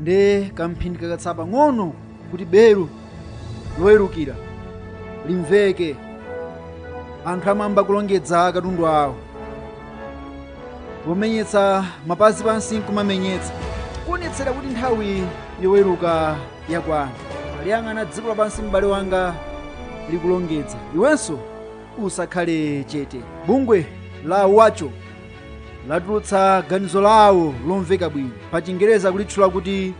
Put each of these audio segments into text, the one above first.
nde kamphindi kakatsala pang'ono kuti belu lowerukira limveke anthu amayamba kulongedza katundu wawo pomenyetsa mapazi pansi nkumamenyetsa kuonetsera kuti nthawi yoweruka yakwana taliyang'ana dziko lapansi m'bale wanga likulongedza iwenso usakhale chete bungwe la WHO latulutsa ganizo lawo lomveka bwino pa chingereza kulitchula kuti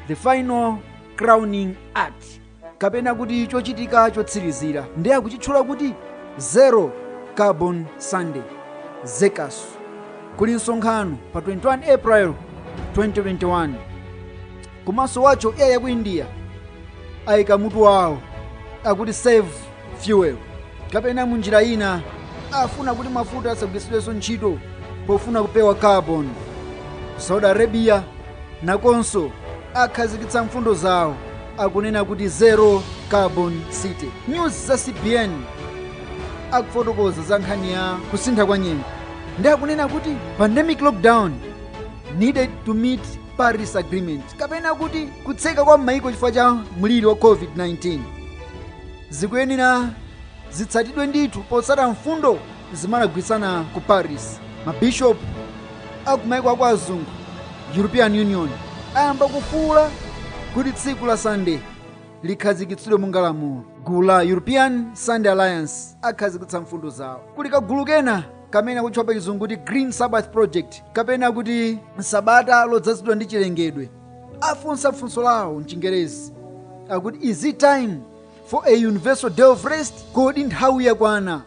the final crowning act kapena kuti chochitika chotsirizira ndi akuchitchula kuti zero carbon sunday zekaso kuli msonkhano pa 21 april 2021 komanso WHO iyi yaku india ayika mutu wawo akuti save fuel kapena munjira ina afuna kuti mafuta asagwiritsidwenso ntchito pofuna kupewa carbon saudi arabia nakonso akhazikitsa mfundo zawo akunena kuti zero carbon city news za cbn akufotokoza za nkhani ya kusintha kwa nyengo ndi akunena kuti pandemic lockdown needed to meet paris agreement kapena kuti kutseka kwa mayiko chifukwa cha mliri wa covid-19 zikuyenera zitsatidwe ndithu potsata mfundo zimene anagwirizana ku paris mabishopu akumayiko akwa azungu european union ayamba kufuula kuti tsiku la sunday likhazikitsidwe monga lamulo gulu la european sunday alliance akhazikitsa mfundo zawo kuli kagulu kena kamene akutchedwa pa chizungu kuti green sabbath project kapena kuti sabata lodzazidwa ndi chilengedwe afunsa funso lawo mchingerezi akuti is it time for a universal day of rest kodi nthawi yakwana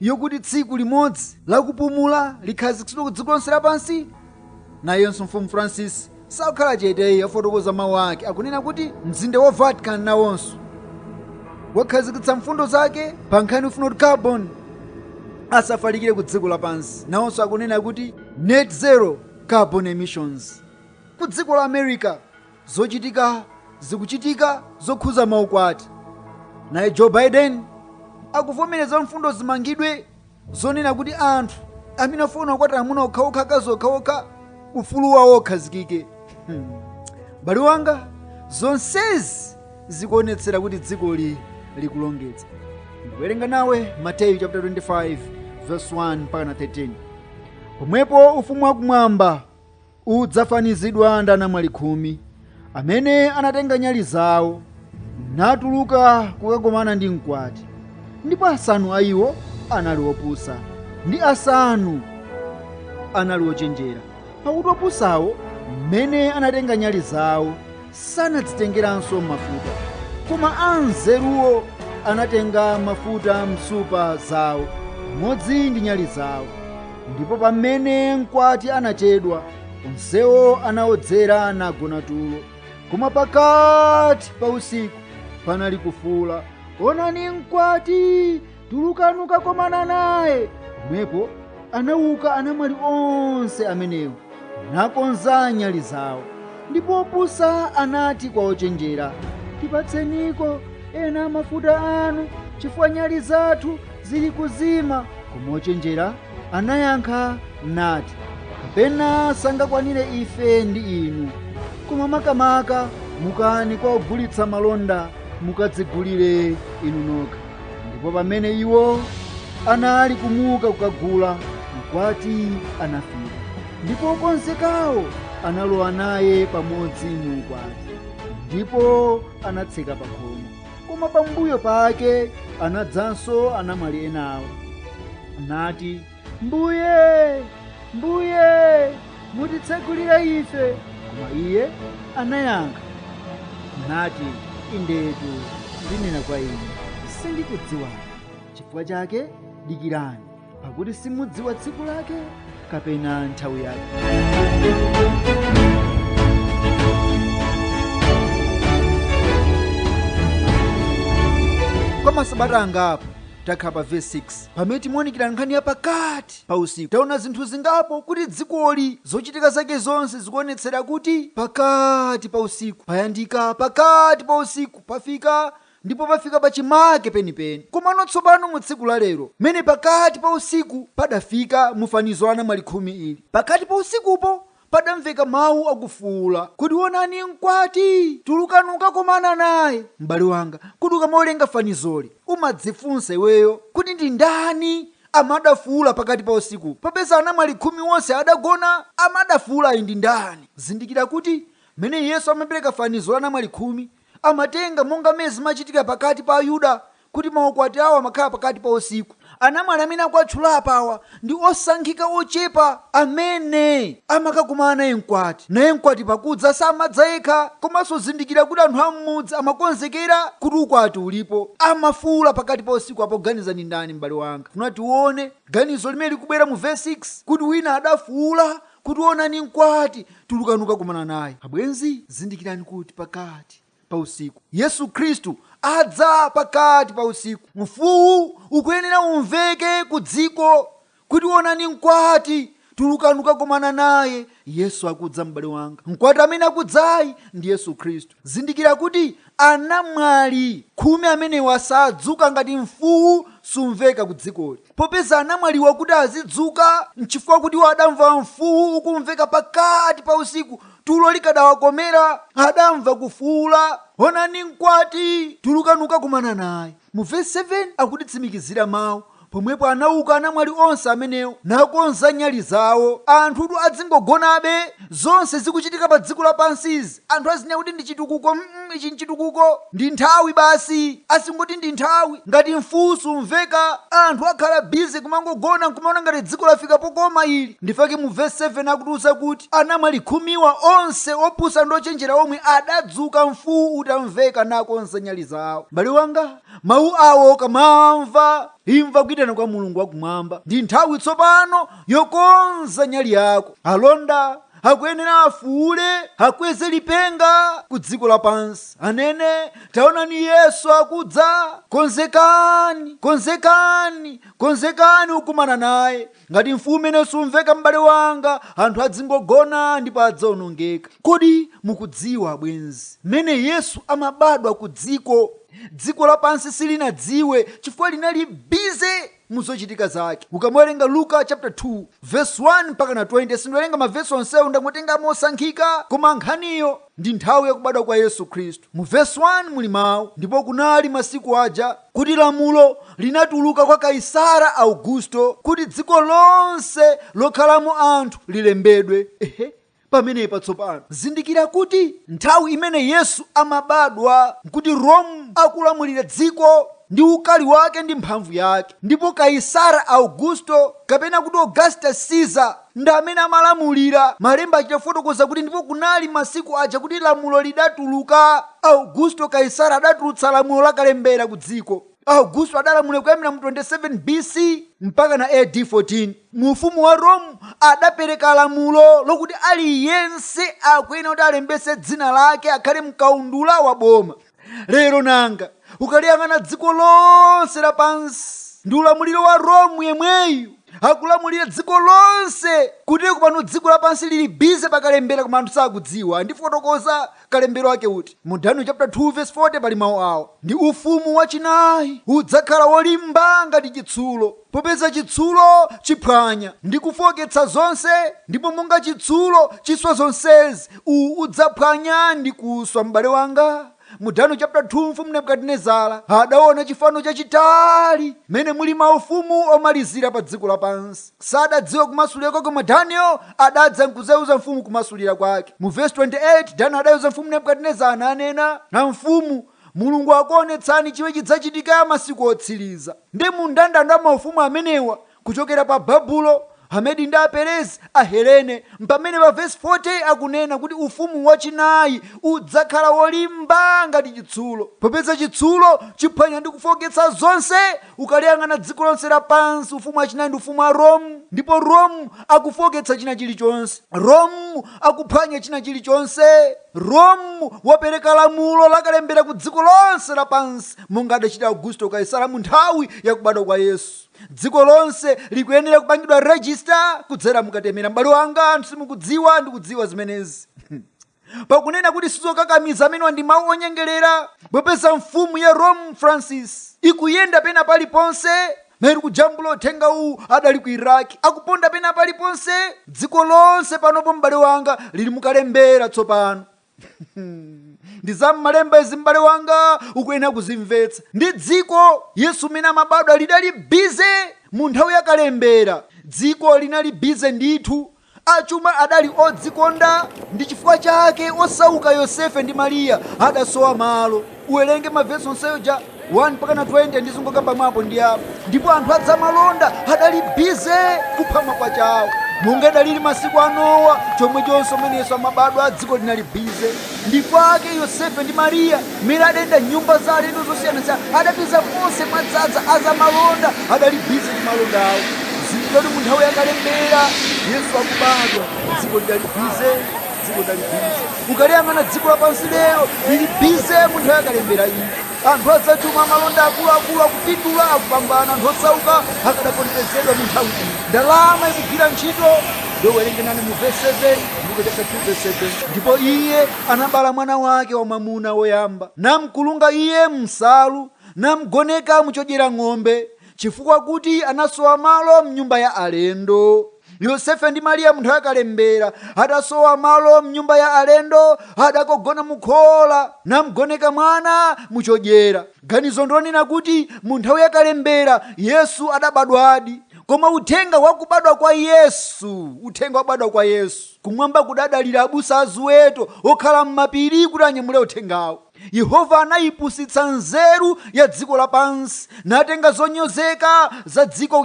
yokuti tsiku limodzi lakupumula likhazikitsidwe ku dziko lonse lapansi Nayonso Mfumu Francis sakukhala chete iyi, yafotokoza mawu ake akunena kuti mzinda wa Vatican nawonso wakhazikitsa mfundo zake pa nkhani yofuna kuti carbon asafalikire ku dziko lapansi nawonso akunena kuti net zero carbon emissions ku dziko la america zikuchitika zokhuza maukwati naye joe biden akuvomereza mfundo zimangidwe zonena kuti anthu amene afuna kukwatirana amuna okhaokha akazi okhaokha ufulu wawo ukhazikike m'bale wanga zonsezi zikuonetsera kuti dzikoli likulongedza ndikuwerenga nawe mateyu chapter 25 verse 1 mpaka na 13 pomwepo ufumu wakumwamba udzafanizidwa ndi anamwali khumi amene anatenga nyali zawo natuluka kukakomana ndi mkwati ndipo asanu a iwo anali opusa ndi asanu anali ochenjera pakuti opusawo mmene anatenga nyali zawo sanadzitengeranso mafuta koma anzeruwo anatenga mafuta m'nsupa zawo pamodzi ndi nyali zawo ndipo pamene mkwati anachedwa onsewo anaodzera nagona tulo koma pakati pa usiku panali kufuula onani mkwati tulukani kukakomana naye pomwepo anauka anamwali onse amenewo nakonza nyali zawo ndipo opusa anati kwa ochenjera tipatseniko ena mafuta anu chifukwa nyali zathu zili kuzima koma ochenjera anayankha nati kapena sangakwanire ife ndi inu koma makamaka mukani kwa ogulitsa malonda mukadzigulire inu nokha ndipo pamene iwo anali kumuka kukagula mkwati anafika ndipo okonzekawo analowa naye pamodzi mu ukwati ndipo anatseka pakhomo koma pambuyo pake anadzanso anamwali enawo nati mbuye mbuye mutitsegulire ife koma iye anayankha nati indetu ndinena kwa inu sindikudziwani chifukwa chake dikirani pakuti simudziwa tsiku lake kapena nthawi yake kwa masabata angapo takhala pa vesi 6 Pamene timaonikira nkhani ya pakati pa usiku, taona zinthu zingapo kuti dzikoli zochitika zake zonse zikuonetsera kuti pakati pa usiku payandika, pakati pa usiku pafika ndipo pafika pachimake penipeni. Komano tsopano mu tsiku la lero mene pakati pa usiku padafika mu fanizo la anamwali khumi ili, pakati pa usikupo padamveka mau akufuula kuti, Onani mkwati! Tulukani kukakomana naye! M'bale wanga, kodi ukamawerenga fanizoli umadzifunsa iweyo kuti ndi ndani amene adafuula pakati pa usiku popeza anamwali khumi onse adagona? Amene adafuulayi ndi ndani? Zindikira kuti m'mene Yesu amapereka fanizo la anamwali khumi, amatenga monga mmene zimachitikira pakati pa Ayuda kuti maukwati awo amakhala pakati pa usiku. Anamwali amene akuwatchula apawa ndi osankhika ochepa amene amakakomana naye mkwati. Naye mkwati pakudza samadza yekha. Komanso zindikira kuti anthu a m'mudzi amakonzekera kuti ukwati ulipo. Amafuula pakati pa usiku apa uganiza ndi ndani m'bale wanga? Funa tione ganizo limene likubwera mu vesi 6 kuti wina adafuula kuti onani mkwati tulukani ukakumana naye abwenzi zindikirani kuti pakati pa usiku yesu khristu adza pakati pa usiku mfuwu ukuyenera umveke ku dziko kuti onani mkwati tulukani ukakumana naye yesu akudza m'bale wanga mkwati amene akudzayi ndi yesu khristu zindikira kuti anamwali khumi amenewa sadzuka ngati mfuwu sumveka ku dzikoli Popeza anamwaliwa kuti azidzuka, nchifukwa kuti iwo adamva mfuwu ukumveka pakati pa usiku, tulo likadawakomera, adamva kufuula, Onani mkwati! Tulukani ukakumana naye. Mu vesi 7 akutitsimikizira mau, Pomwepo anauka anamwali onse amenewo, nakonza nyali zawo. Anthutu adzingogonabe Zonse zikuchitika pa dziko lapansi izi anthu azinena kuti ndi chitukuko mm ichi nchitukuko ndi nthawi basi azingoti ndi nthawi ngati mfuu sumveka anthu akhala busy kumangogona nkumaona ngati dziko lafika pokoma ili ndi chifukwa chake mu verse 7 akutiuza kuti anamwali khumiwa onse opusa ndi ochenjera omwe adadzuka mfuu utamveka nakonza nyali zawo m'bale wanga mawu awo ukamamva imva kuitana kwa mulungu wakumwamba ndi nthawi tsopano yokonza nyali yako. Alonda akuyenera afuule, akweze lipenga ku dziko lapansi, anene, Taonani Yesu akudza! Konzekani, konzekani, konzekani ukumana naye. Ngati mfuu umene sumveka, m'bale wanga, anthu adzingogona ndipo adzaonongeka. Kodi mukudziwa, abwenzi, mmene Yesu amabadwa ku dziko? Dziko lapansi silinadziwe chifukwa linali bize mu zochitika zake. Ukamawerenga Luka chapter 2 verse 1 mpaka na 20, sindiwerenga mavesi onsewo, ndangotenga mosankhika, koma nkhaniyo ndi nthawi ya kubadwa kwa Yesu Khristu. Mu verse 1 muli mawu, ndipo kunali masiku aja kuti lamulo linatuluka kwa Kaisara Augusto kuti dziko lonse lokhalamo anthu lilembedwe. Ehe. Pamenepa tsopano zindikira kuti nthawi imene Yesu amabadwa nkuti Rome akulamulira dziko ndi ukali wake ndi mphamvu yake, ndipo Kaisara Augusto, kapena kuti Augustus Caesar, ndi amene amalamulira. Malemba achita kufotokoza kuti, Ndipo kunali masiku aja kuti lamulo lidatuluka, Augusto Kaisara adatulutsa lamulo la kalembera kudziko. Augusto adalamulira kuyambira mu 27 B.C. mpakana A.D. 14. Mu Ufumu wa Rome, adapereka lamulo lokuti aliyense akuyenera kuti alembetse dzina lake akhale m'kaundula wa boma. Lero nanga, ukaliyang'ana dziko lonse lapansi, ndi ulamuliro wa Rome yemweyu akulamulira dziko lonse. Kotero kuti pano dziko lapansi lili bize pa kalembera koma anthu sakudziwa. Ndifotokoza kalembero ake kuti mu daniel chapter 2 verse 40 pali mawu awa ndi ufumu wachinayi udzakhala wolimba ngati chitsulo popeza chitsulo chiphwanya ndi kufooketsa zonse ndipo monga chitsulo chiswa zonsezi uwu udzaphwanya ndi kuswa m'bale wanga mu daniel chapter 2 mfumu nebukadinezara adaona chifano chachitali mmene muli maufumu omalizira pa dziko lapansi Sadadziwa kumasulira kwake koma Daniel adadza nkudzaiuza mfumu kumasulira kwake. Mu vesi 28 Daniel adaiuza mfumu Nebukadinezara nanena a mfumu, Mulungu akuonetsani chimene chidzachitika masiku otsiliza. Ndi mu mndandanda wa maufumu amenewa kuchokera pa Babulo, Amedi ndi Aperezi, Ahelene, mpamene pa vesi 40 akunena kuti ufumu wachinayi udzakhala wolimba ngati chitsulo, popeza chitsulo chiphwanya ndi kufooketsa zonse Ukaliyang'ana dziko lonse lapansi, ufumu wachinayi ndi ufumu wa Rome. Ndipo Rome akufooketsa china chilichonse. Rome akuphwanya china chilichonse. Rome wapereka lamulo lakalembera ku dziko lonse lapansi, monga adachita Augusto Kaisara mu nthawi ya kubadwa kwa Yesu. Dziko lonse likuyenera kupangidwa register kudzera mu katemera. M'bale wanga, anthu simukudziwa ndi kudziwa zimenezi. pakunena kuti sizokakamiza amenewa ndi mawu onyengerera popeza mfumu ya rome francis ikuyenda pena paliponse mmene ndikujambula uthenga uwu adali ku iraki akuponda pena paliponse dziko lonse panopo m'bale wanga lili mukalembera tsopano ndi za m'malemba izi m'bale wanga ukuyenera kuzimvetsa ndi dziko yesu mmene amabadwa lidali bize mu nthawi yakalembera dziko linali bize ndithu Achuma adali odzikonda ndi chifukwa chake osauka Yosefe ndi Mariya adasowa malo. Uwerenge ma vesi onsewo kuja 1 mpakana 20 ndizingokamba mwa apo ndi apo. Ndipo anthu azamalonda adali busy kupha makwacha awo. Monga idalili masiku a Nowa, chomwechonso mmene Yesu amabadwa dziko linali busy. ndi kwake yosefe ndi mariya mmene adayenda nyumba za alendo zosiyanasiyana adapeza konse mwadzadza azamalonda adali bizi ndi malonda awo zindikira kuti mu nthawi yakalembera yesu akubadwa dziko lidali bize dziko lidali bize ukaliyang'ana dziko lapansi lero lili bize mu nthawi yakalembera iyi Anthu azachuma amalonda akuluakulu akupindula, akupambana. Anthu osauka akadaponderezedwa mu nthawi iyi. Ndalama ikugwira ntchito. Ndipo werenge nane mu vesi 7, mu Luka chaputala 2 vesi 7. Ndipo iye anabala mwana wake wamwamuna woyamba, namkulunga iye m'nsalu, namgoneka mu chodyera ng'ombe, chifukwa kuti anasowa malo m'nyumba ya alendo. yosefe ndi mariya mu nthawi ya kalembera adasowa malo mnyumba ya alendo adakogona mukhola namgoneka mwana muchodyera ganizo ndonena kuti mu nthawi yakalembera yesu adabadwadi koma uthenga wakubadwa kwa yesu uthenga wakubadwa kwa yesu kumwamba kudadalira abusa aziweto okhala m'mapiri kuti anyamule uthengawo Yehova anayipusitsa nzeru ya dziko lapansi natenga zonyozeka za dziko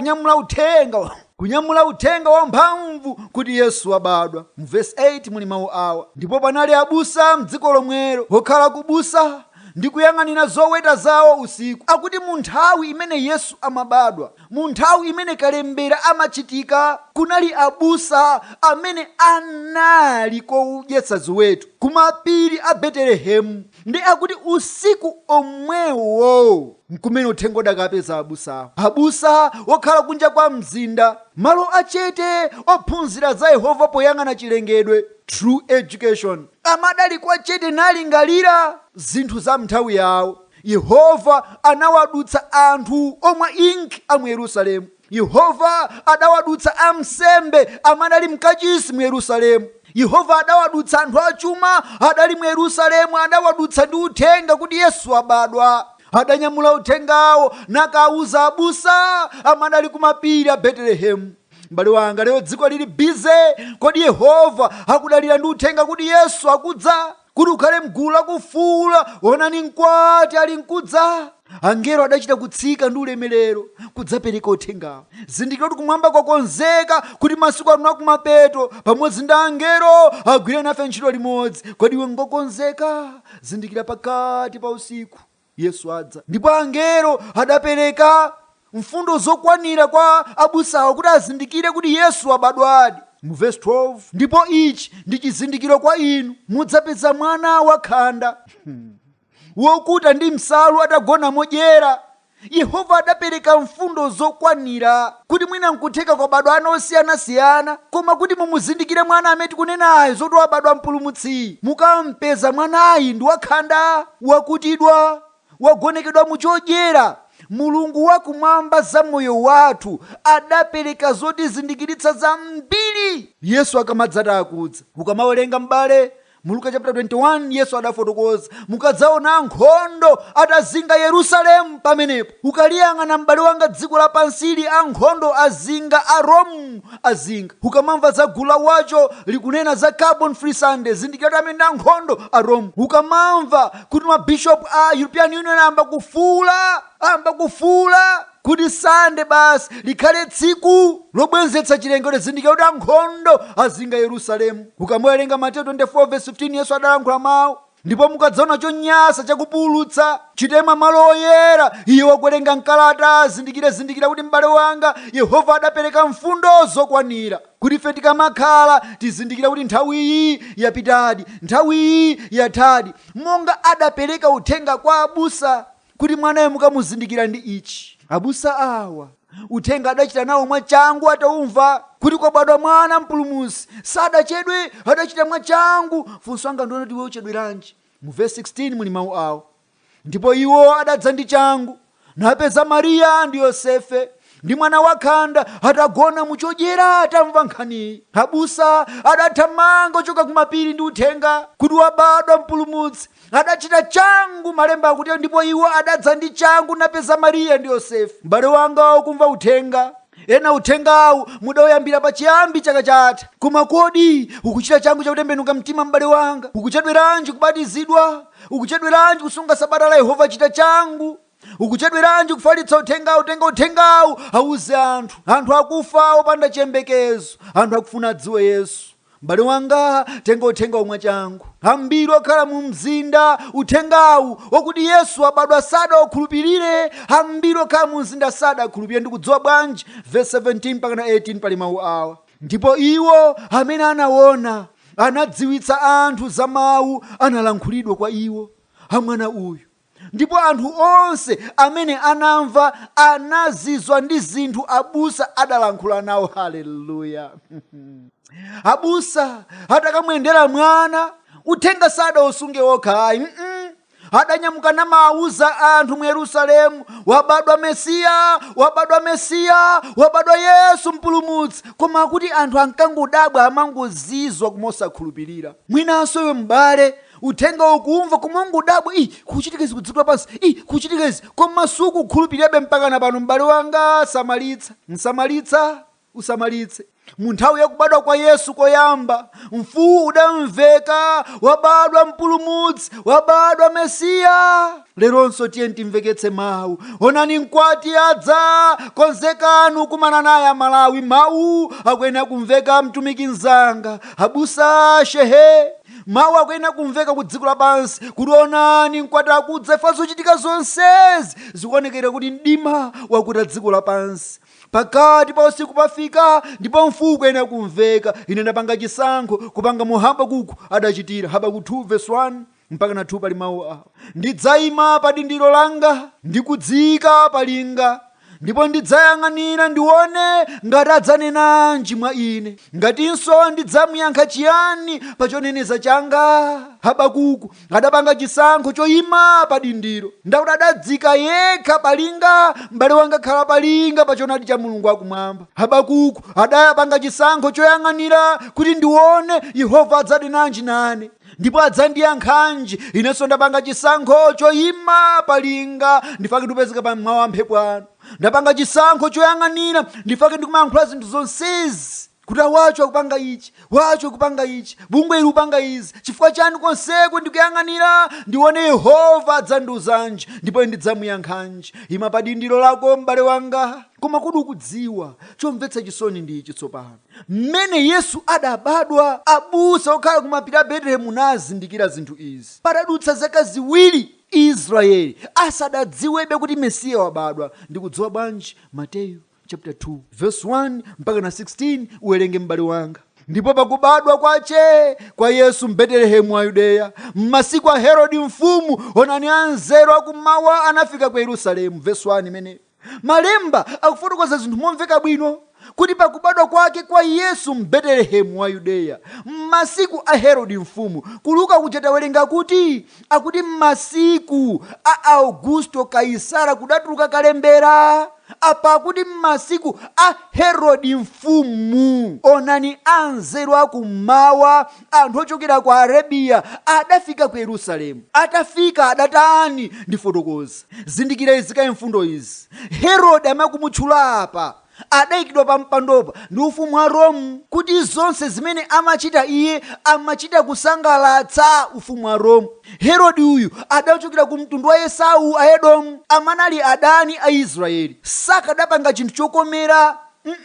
kunyamula uthenga wamphamvu kuti Yesu wabadwa. Mu vesi 8 muli mawu awa, Ndipo panali abusa m'dziko lomwelo, wokhala kubusa, ndi kuyang'anira zoweta zawo usiku. Akuti mu nthawi imene Yesu amabadwa, Mu nthawi imene kalembera amachitika, kunali abusa amene anali kodyetsa ziweto ku mapiri a Betelehemu nde akuti usiku omwewo nkumene uthenga udakapeza abusawo. Abusa okhala kunja kwa mzinda, malo a chete ophunzira za Yehova poyang'ana chilengedwe, True Education, amadali kwa chete nalingalira zinthu za m'nthawi yawo. Yehova anawadutsa anthu omwa ink a mu Yerusalemu. Yehova adawadutsa amsembe amadali mkachisi mu Yerusalemu. Yehova adawadutsa anthu achuma adali mu Yerusalemu adawadutsa ndi uthenga kuti Yesu wabadwa. Adanyamula uthengawo nakawuza abusa amadali kumapiri a Betelehemu. M'bale wanga lero dziko lili busy kodi Yehova akudalira ndi uthenga kuti Yesu akudza? kuti ukhale m'gulu lakufuula, onani mkwati ali nkudza. Angelo adachita kutsika ndi ulemerero kudzapereka uthengawo. Zindikira kuti kumwamba kwakonzeka kuti masiku ano akumapeto pamodzi ndi angelo agwire nafe ntchito limodzi. Kodi iwe ngokonzeka? Zindikira pakati pa usiku Yesu adza. Ndipo angelo adapereka mfundo zokwanira kwa abusawo kuti azindikire kuti Yesu wabadwadi. Mu vesi 12, ndipo ichi ndi chizindikiro kwa inu, mudzapeza mwana wakhanda, wokuta ndi msalu atagona modyera. Yehova adapereka mfundo zokwanira. kuti mwina nkutheka kwabadwa ana osiyanasiyana koma kuti mumuzindikire mwana amene tikunenayo zoti wabadwa mpulumutsi mukampeza mwanayi ndi wakhanda wakutidwa wagonekedwa mu chodyera mulungu wa kumwamba za moyo wathu adapereka zotizindikiritsa zambiri yesu akamadzati akudza ukamawerenga m'bale Mu Luka chapter 21 Yesu adafotokoza mukadzaona ankhondo atazinga Yerusalemu pamenepo ukaliyang'ana m'bale wanga dziko lapansili ankhondo azinga a Rome azinga ukamamva za gulu la wacho likunena za carbon free Sunday zindikira kuti amene ndi ankhondo a Rome ukamamva kuti mabishopu a European Union ayamba kufuula ayamba kufuula kuti Sande basi likhale tsiku lobwenzetsa chilengedwe zindikira kuti ankhondo azinga Yerusalemu. Ukamuwerenga Mateyu 24 vesi 15 Yesu adalankhula mawu ndipo mukadzaona chonyasa chakupululutsa chitaima m'malo oyera iye wakuwerenga mkalata azindikire zindikira kuti m'bale wanga Yehova adapereka mfundo zokwanira kuti ife tikamakhala tizizindikira kuti nthawiyi yapitadi nthawiyi yathadi monga adapereka uthenga kwa abusa kuti mwanayo mukamuzindikire ndi ichi. Abusa awa uthenga adachita nawo mwachangu ataumva kuti kwabadwa mwana mpulumutsi sadachedwe adachita mwachangu funso langa ndi lonena kuti iwe uchedweranji mu verse 16 muli mawu awa ndipo iwo adadza ndi changu napeza mariya ndi yosefe ndi mwana wakhanda atagona muchodyera atamva nkhaniyi abusa adathamanga kuchoka kumapiri ndi uthenga kuti wabadwa mpulumutsi adachita changu malemba akuti ndipo iwo adadza ndi changu napeza mariya ndi yosefe m'bale wanga ukumva uthenga ena uthengawu mudauyambira pa chiyambi chaka chatha koma kodi ukuchita changu chakutembenuka mtima m'bale wanga ukuchedweranji kubatizidwa ukuchedweranji kusunga sabata la yehova chita changu ukuchedweranji kufalitsa uthengawu tenga uthengawu awuze anthu anthu akufa opanda chiyembekezo anthu akufuna adziwe yesu m'bale wanga tenga uthengawu mwachangu ambiri okhala mu mzinda uthengawu wakuti yesu wabadwa sadaukhulupirire ambiri okhala mu mzinda sadakhulupirire ndikudziwa bwanji verse 17 mpakana 18 pali mawu awa ndipo iwo amene anaona anadziwitsa anthu za mawu analankhulidwa kwa iwo a mwana uyu Ndipo anthu onse amene anamva anazizwa ndi zinthu abusa adalankhula nawo. Haleluya! Abusa atakamuyendera mwana, uthenga sadausunge okha ayi, mm-mm. adanyamuka namawuza anthu mu Yerusalemu, wabadwa Mesiya, wabadwa Mesiya, wabadwa Yesu Mpulumutsi. Koma akuti anthu ankangodabwa, amangozizwa koma osakhulupirira. Mwinanso iwe m'bale Uthengawu ukuumva koma kumangodabwa, ii kukuchitika izi ku dziko lapansi? ii kukuchitika izi koma sukukhulupirirabe mpakana pano m'bale wanga samalitsa, usamalitse, usamalitse. Mu nthawi ya kubadwa kwa Yesu koyamba, mfuwu udamveka, wabadwa mpulumutsi, wabadwa Mesiya! Leronso tiyeni timveketse mawu, onani mkwati adza, konzekani kukumana naye aMalawi mawu akuyenera kumveka mtumiki mnzanga, abusa, shehee! mawu akuyenera kumveka ku dziko lapansi kuti onani mkwati akudza eee zochitika zonsezi zikuonekera kuti mdima wakuta dziko lapansi pakati pa usiku pafika ndipo mfuwu ukuyenera kumveka ine ndapanga chisankho kupanga momwe habakuku adachitira habakuku 2 verse 1 mpaka na 2 pali mawu awa ndidzayima pa dindiro langa ndikudziyika pa linga ndipo ndidzayang'anira ndione ngati adzanenanji mwa ine ngatinso ndidzamuyankha chiyani pa choneneza changa habakuku adapanga chisankho choyima pa dindiro ndakuti adadzika yekha palinga m'bale wanga khala palinga pa chonadi cha mulungu akumwamba habakuku adapanga chisankho choyang'anira kuti ndione yehova adzanenanji nane ndipo adzandiyankhanji inenso ndapanga chisankho choyima palinga nchifukwake ndikupezeka pa mawu a mphepo ano ndapanga chisankho choyang'anira nchifukwake ndikumayankhula zinthu zonsezi kuti Watchtower akupanga ichi Watchtower akupanga ichi bungwe ili likupanga izi chifukwa chani konseko ndikuyang'anira ndione yehova adzandiuzanji ndipo ndidzamuyankhanji ima pa dindiro lako m'bale wanga koma kodi ukudziwa chomvetsa chisoni ndi ichi tsopano Mmene Yesu adabadwa, abusa okhala ku mapiri a Betelehemu anazindikira zinthu izi, padadutsa zaka ziwiri Israyeli asadadziwebe kuti Mesiya wabadwa. Ndikudziwa bwanji? Mateyu chaputala 2 vesi 1 mpakana 16 uwerenge m'bale wanga. Ndipo pakubadwa kwache kwa Yesu m'Betelehemu wa Yudeya, m'masiku a Herode mfumu, onani anzeru a kum'mawa anafika ku Yerusalemu, vesi 1, imeneyo. Malemba akufotokoza zinthu momveka bwino kuti pa kubadwa kwake kwa Yesu m'Betelehemu wa Yudeya, m'masiku a Herode mfumu, ku Luka kuja tawerenga kuti, akuti m'masiku a Augusto Kaisara kudatuluka kalembera, apa akuti m'masiku a Herode mfumu. Onani anzeru a kum'mawa Anthu ochokera ku Arabiya adafika ku Yerusalemu. Atafika adatani? Ndifotokoze. Zindikira izi kaye mfundo izi. Herode amene akumutchula apa adaikidwa pampandopa ndi ufumu wa Rome kuti zonse zimene amachita iye amachita kusangalatsa ufumu wa Rome. Herode uyu adachokera ku mtundu wa Esau, Aedomu, amene anali adani a Israyeli. Sakadapanga chinthu chokomera mm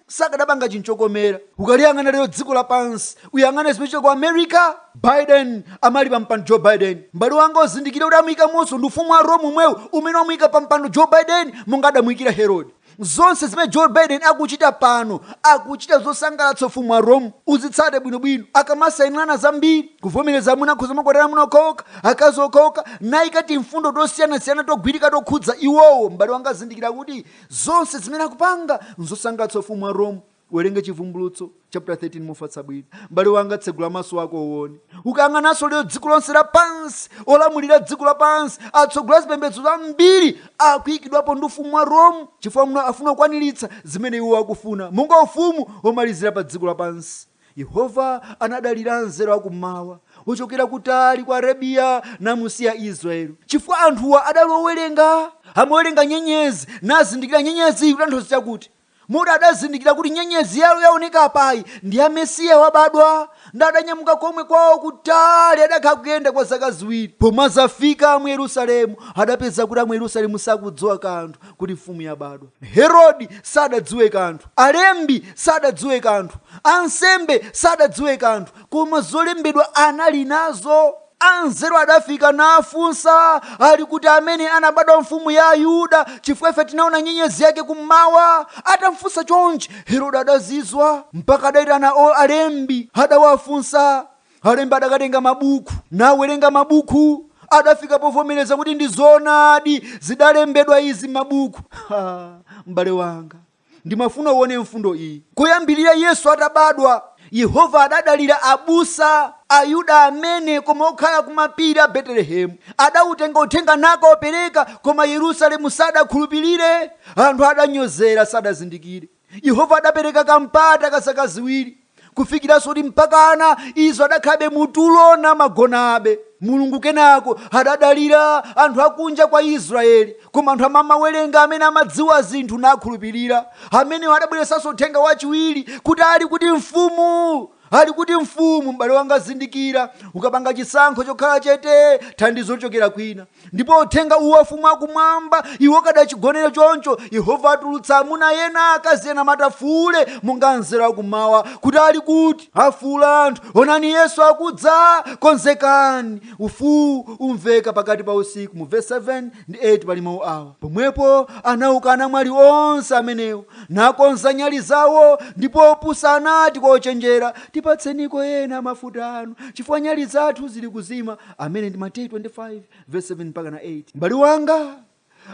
sakadapanga chinthu chokomera ukaliyang'ana lero dziko lapansi uyang'ane zimene zikuchitika ku america biden amene ali pampando joe biden m'bale wanga uzindikire kuti amuyikamonso ndi ufumu wa rome umwewu umene wamuyika pampando joe biden monga adamuyikira herode zonse zimene joe biden akuchita pano akuchita zosangalatsa ufumu wa rome uzitsate bwinobwino akamasayinirana zambiri kuvomereza amuna akhoza kumakwatira amuna okhaokha akazi okhaokha nayika timfundo tosiyanasiyana togwirika tokhudza iwowo m'bale wanga uzindikire kuti zonse zimene akupanga nzosangalatsa ufumu wa rome uwerenge chivumbulutso chapter 13 mofatsa bwino m'bale wanga tsegula maso ako uone ukayang'ananso lero dziko lonse lapansi olamulira dziko lapansi atsogoleri a zipembedzo zambiri akuyikidwapo ndi ufumu wa rome chifukwa muno afuna kukwaniritsa zimene iwo akufuna monga ufumu womalizira pa dziko lapansi Yehova anadalira anzeru akummawa ochokera kutali ku Arabiya namusiya Israel chifukwa anthuwa adali owerenga, amawerenga nyenyezi nazindikira nyenyeziyi ikutanthauza chakuti moti adazindikira kuti nyenyezi yalo yaoneka apayi ndi ya Mesiya wabadwa ndiye adanyamuka komwe kwawo kutali adakhala kuyenda kwa zaka ziwiri pomwe azafika mu Yerusalemu adapeza kuti amu Yerusalemu sakudziwa kanthu kuti mfumu yabadwa. Herode sadadziwe kanthu, alembi sadadziwe kanthu, ansembe sadadziwe kanthu, koma zolembedwa anali nazo. Anzeru adafika nafunsa, ali kuti amene anabadwa mfumu ya Ayuda, chifukwa ife tinaona nyenyezi yake kummawa. Atamfunsa chonchi, Herode adazizwa, mpaka adaitana o- alembi, adawafunsa, Alembi adakatenga mabuku, nawerenga mabuku, adafika povomereza kuti ndi zoonadi zidalembedwa izi m'mabuku. Ha! M'bale wanga, ndimafuna uone mfundo iyi. Kuyambirira Yesu atabadwa, Yehova adadalira abusa Ayuda amene koma okhala kumapiri a Betelehemu. Adautenga uthenga nakaupereka, koma Yerusalemu sadakhulupirire. Anthu adanyozera, sadazindikire. Yehova adapereka kampata ka zaka ziwiri, kufikiranso kuti mpakana iwo adakhalabe mu tulo namagonabe. Mulungu kenako adadalira anthu akunja kwa Israyeli, koma anthu amene amawerenga amene amadziwa zinthu nakhulupirira. Amenewo adabweretsanso uthenga wachiwiri kuti ali kuti mfumu? Ali kuti mfumu? M'bale wanga zindikira, ukapanga chisankho chokhala chete, thandizo lichokera kwina. Ndipo uthenga uwu wa Ufumu wa Kumwamba, iwe ukadachigonera choncho, Yehova atulutsa amuna ena, akazi ena amati afuule, monga anzeru akummawa, kuti ali kuti? Afuula anthu, onani Yesu akudza! Konzekani! Mfuu umveka pakati pa usiku. Mu vesi 7 ndi 8 pali mau awa. Pomwepo anauka anamwali onse amenewo, nakonza nyali zawo, ndipo opusa anati kwa ochenjera, Tipatseniko ena a mafuta anu, chifukwa nyali zathu zili kuzima. amene ndi mateyu 25 verse 7 mpaka na 8 m'bale wanga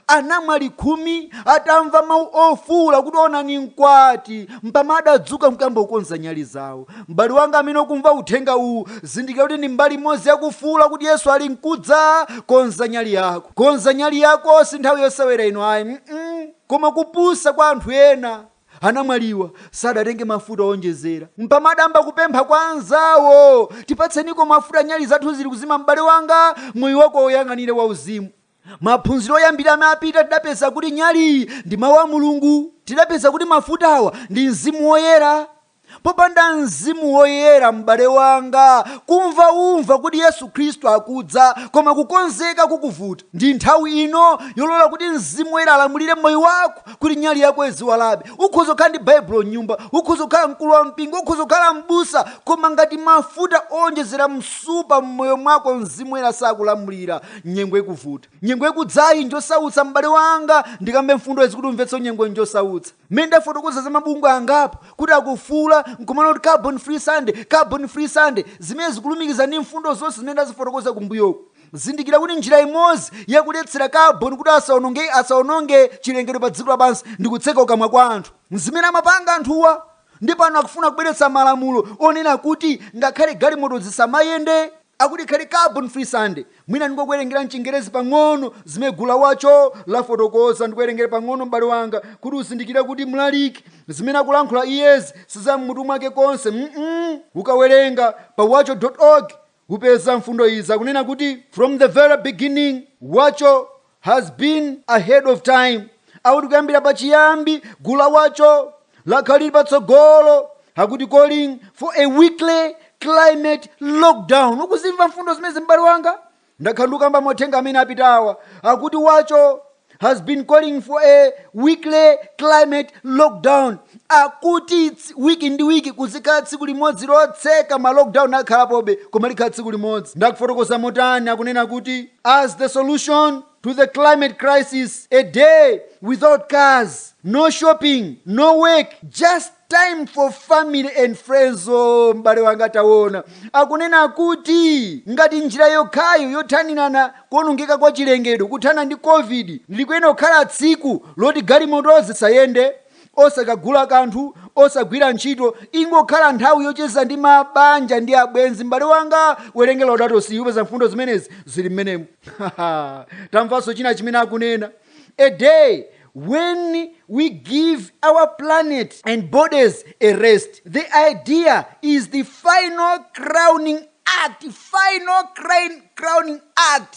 anamwali khumi atamva mawu ofuwula kuti onani mkwati mpama adadzuka nkuyamba kukonza nyali zawo m'bale wanga amene ukumva uthenga uwu zindikira kuti ndi mbali imodzi yakufuwula kuti yesu ali nkudza konza nyali yako konza nyali yako si nthawi yosewera ino ayi mm koma kupusa kwa anthu ena Anamwaliwa sadatenge mafuta oonjezera mpama adayamba kupempha kwa anzawo, Tipatseniko mafuta, nyali zathu zili kuzima. M'bale wanga, moyo wako uwuyang'anire wauzimu. Maphunziro oyambirira amene apita tidapeza kuti nyaliyi ndi Mau a Mulungu. Tidapeza kuti mafutawa ndi Mzimu Woyera. Popanda Mzimu Woyera, m'bale wanga, kumva ukumva kuti Yesu Khristu akudza, koma kukonzeka kukuvuta. Ndi nthawi ino yolola kuti Mzimu Woyera alamulire moyo wako, kuti nyali yako iziwalabe. Ukhoza kukhala ndi Baibulo m'nyumba, ukhoza kukhala mkulu wa mpingo, ukhoza kukhala m'busa, koma ngati mafuta owonjezera msupa m'moyo mwako Mzimu Woyera sakulamulira, nyengo ikuvuta. Nyengo ikudzayi njosautsa, m'bale wanga, ndikambe mfundo izi kuti umvetse nyengo njosautsa. Mmene ndafotokoza za mabungwe angapo kuti akufuula n'kumanena kuti Carbon Free Sunday, Carbon Free Sunday, zimene zikulumikiza ndi mfundo zonse zimene ndazifotokoza kumbuyoku. Zindikira kuti njira imodzi ya kuletsera carbon kuti asawononge asawononge chilengedwe pa dziko lapansi ndi kutseka kukamwa kwa anthu. N'zimene amapanga anthuwa. Ndi pano akufuna kubweretsa malamulo onena kuti ngakhale galimoto zisamayende. Akuti ikhale Carbon Free Sunday. Mwina ndingokuwerengerani m'Chingerezi pang'ono zimene gulu la Watch All lafotokoza. Ndikuwerengere pang'ono m'bale wanga, kuti uzindikire kuti mlaliki, zimene akulankhula iyezi si za m'mutu mwake konse. mm. Ukawerenga pa watchall dot org, upeza mfundo izi. Akunena kuti, From the very beginning, Watch All has been ahead of time akuti kuyambira pachiyambi gulu la wacho lakhala lili patsogolo akuti calling for a weekly climate lockdown ukuzimva mfundo zimenezi m'bale wanga ndakhala ndikukamba m'mauthenga amene apitawa akuti wacho has been calling for a weekly climate lockdown akuti ts- wiki ndi wiki kuzikhala tsiku limodzi lotseka ma lockdown akhalapobe koma likhala tsiku limodzi nde akufotokoza motani akunena kuti as the solution to the climate crisis, a day without cars, no shopping, no work, just time for family and friends. Oh, m'bale wanga taona akunena kuti ngati njira yokhayo yothanirana n'kuonongeka kwa chilengedwe kuthana ndi covid likuyenera kukhala tsiku loti galimoto zisayende osakagula kanthu osagwira ntchito ingokhala nthawi yocheza ndi mabanja ndi abwenzi m'bale wanga werenga laudato si upeza mfundo zimenezi zili mmenemo tamvanso china chimene akunena a day when we give our planet and bodies a rest the idea is the final crowning act final crowning act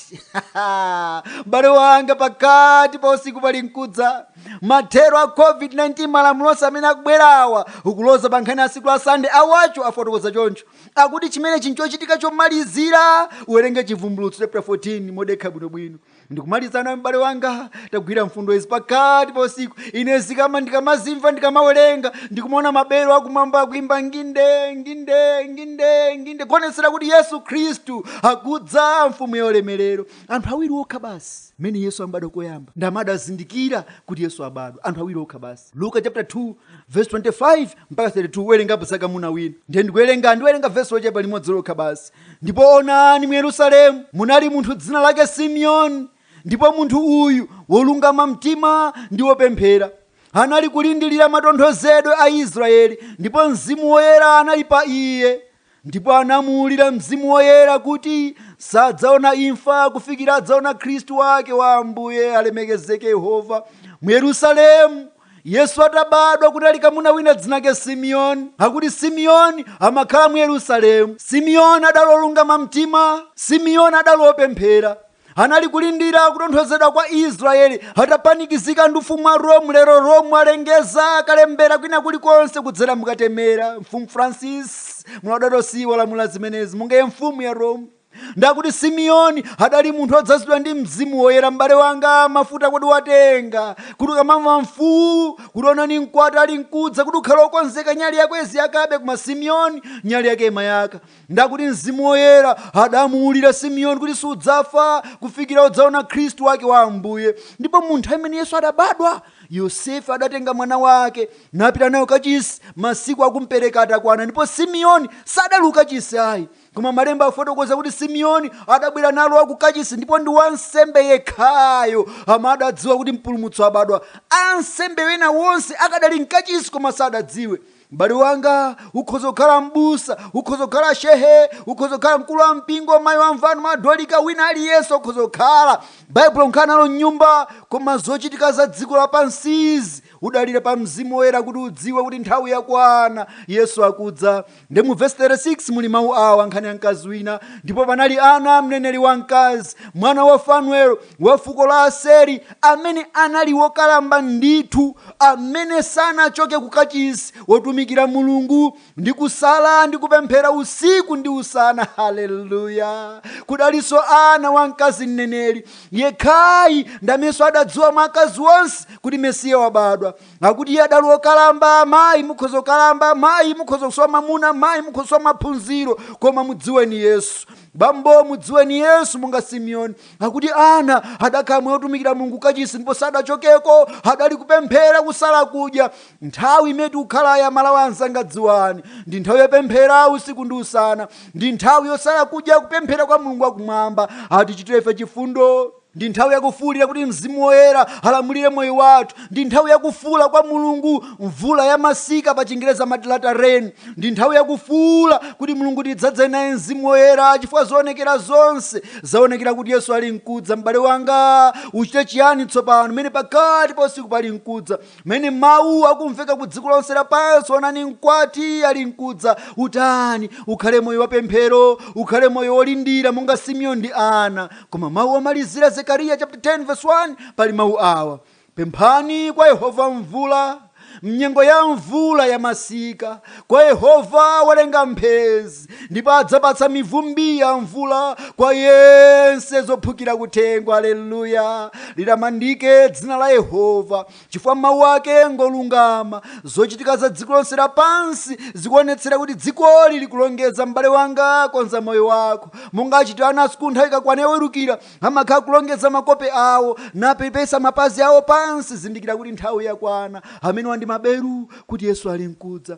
m'bale wanga pakati pa usiku palinkudza mathero a covid-19 malamulo onse amene akubwerawa akuloza pa nkhani ya tsiku la sande awacho afotokoza choncho akuti chimenechi nchochitika chomalizira uwerenge chivumbulutso chapter 14 modekha bwinobwino ndikumalizana m'bale wanga tagwira mfundo izi pakati pa usiku ine zikama ndikamazimva ndikamawerenga ndikumaona mabelo akumwamba akuimba nginde nginde nginde nginde kuonetsera kuti yesu khristu akudza mfumu ya ulemerero anthu awiri okha basi mmene yesu ambadwa koyamba ndamene adazindikira kuti yesu abadwa anthu awiri okha basi luka chapter 2 verse 25 mpaka 32 werengapo zakamuna wina ndiye ndikuwerenga ndiwerenga vesi lochepa limodzi lokha basi Ndipo onani, mu Yerusalemu munali munthu dzina lake Simeoni, ndipo munthu uyu, wolungama mtima ndi wopemphera, anali kulindilira matonthozedwe a Israyeli, ndipo Mzimu Woyera anali pa iye, ndipo anamuulira Mzimu Woyera kuti sadzaona imfa kufikira adzaona Khristu wake wa Ambuye, alemekezeke Yehova, mu Yerusalemu Yesu atabadwa kunali kamuna wina dzinake Simeon. Akuti Simeon amakhala mu Yerusalemu. Simeon adali olungama mtima. Simeon adali opemphera. Anali kulindira kutonthozedwa kwa Israel atapanikizika ndi ufumu wa Rome lero Rome alengeza kalembera kwina kulikonse kudzera mukatemera. Mfumu Francis mu Laudato Si walamula zimenezi mungaye mfumu ya Rome. Ndakuti Simiyoni adali munthu odzazidwa ndi Mzimu Woyera. M'bale wanga, mafuta kodi watenga? Kuti ukamamva mfuu, kuti onani mkwati ali mkudza, kuti ukhale okonzeka nyali yako iziyakabe koma Simiyoni, nyali yake imayaka. Ndakuti Mzimu Woyera adamuulira Simiyoni kuti sudzafa kufikira udzaona Khristu wake wa Ambuye. Ndipo mu nthawi imene Yesu adabadwa, Yosefe adatenga mwana wake, napita nayo kachisi, masiku akumpereka atakwana, ndipo Simiyoni sadali kukachisi ayi. koma malemba afotokoza kuti simeoni adabwera nalo akukachisi ndipo ndi wansembe yekhayo amene adadziwa kuti mpulumutsi wabadwa ansembe ena wonse akadali mkachisi koma sadadziwe m'bale wanga ukhoza kukhala m'busa ukhoza kukhala shehe ukhoza kukhala mkulu wa mpingo mayi wa mvano madolika wina aliyense ukhoza kukhala baibulo unkhala nalo mnyumba koma zochitika za dziko lapansizi udalire pa mzimu woyera kuti udziwe kuti nthawi yakwana yesu akudza Nde mu vesi 36 muli mawu awa nkhani ya mkazi wina, ndipo panali Ana mneneri wamkazi, mwana wa Fanuelo wa fuko la Aseri, amene anali wokalamba ndithu, amene sanachoke ku kachisi wotumikira Mulungu ndi kusala ndi kupemphera usiku ndi usana. Haleluya! Kudalinso Ana wamkazi mneneri yekhayi ndamenso adadziwa mwa akazi onse kuti Mesiya wabadwa. akuti iye adali okalamba mayi mukhoza kukalamba mayi mukhoza kusowa mamuna mayi mukhoza kusowa maphunziro koma mudziweni yesu bambo mudziweni yesu monga simeoni akuti ana adakhala moyo otumikira mulungu kachisi ndipo sadachokeko adali kupemphera kusala kudya nthawi imene tikukhalayi amalawi anzanga dziwani ndi nthawi yopemphera usiku ndi usana ndi nthawi yosala kudya kupemphera kwa mulungu wakumwamba atichitire ife chifundo Ndi nthawi yakufuulira kuti Mzimu Woyera alamulire moyo wathu. Ndi nthawi yakufuula kwa Mulungu, mvula ya masika pa chingerezi amati latter rain. Ndi nthawi yakufuula kuti Mulungu tidzadzeni naye Mzimu Woyera chifukwa zoonekera zonse zaonekera kuti Yesu ali nkudza. M'bale wanga, uchite chiyani tsopano, m'mene pakati pa usiku pali nkudza? Pamene mawu akumveka ku dziko lonse lapansi, onani mkwati ali nkudza. Utani? Ukhale moyo wa pemphero, ukhale moyo wolindira monga Simeoni ndi Ana. Koma mawu omalizira Zekariya chapter 10 verse 1 pali mawu awa, Pemphani kwa Yehova mvula mnyengo ya mvula ya masika, kwa Yehova wolenga mphezi. ndipo adzapatsa mivumbi ya mvula kwa yense zophukira kuthengo aleluya litamandike dzina la yehova chifukwa mawu ake ngolungama zochitika za dziko lonse lapansi zikuonetsera kuti dzikoli likulongeza m'bale wanga konza moyo wako monga achitira ana asukulu nthawi ikakwana yowelukira amakhala kulongeza makope awo napepesa mapazi awo pansi zindikira kuti nthawi yakwana amene wandi maberu kuti yesu ali nkudza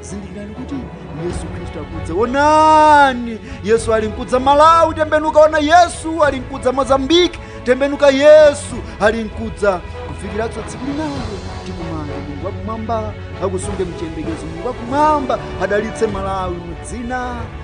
zindikirani kuti yesu khristu akudza onani yesu ali nkudza malawi tembenuka ona yesu ali nkudza mozambiki tembenuka yesu ali nkudza kufikiratso tsiku linalo tikumana mulungu wakumwamba akusunge m'chiyembekezo mulungu wakumwamba adalitse malawi mudzina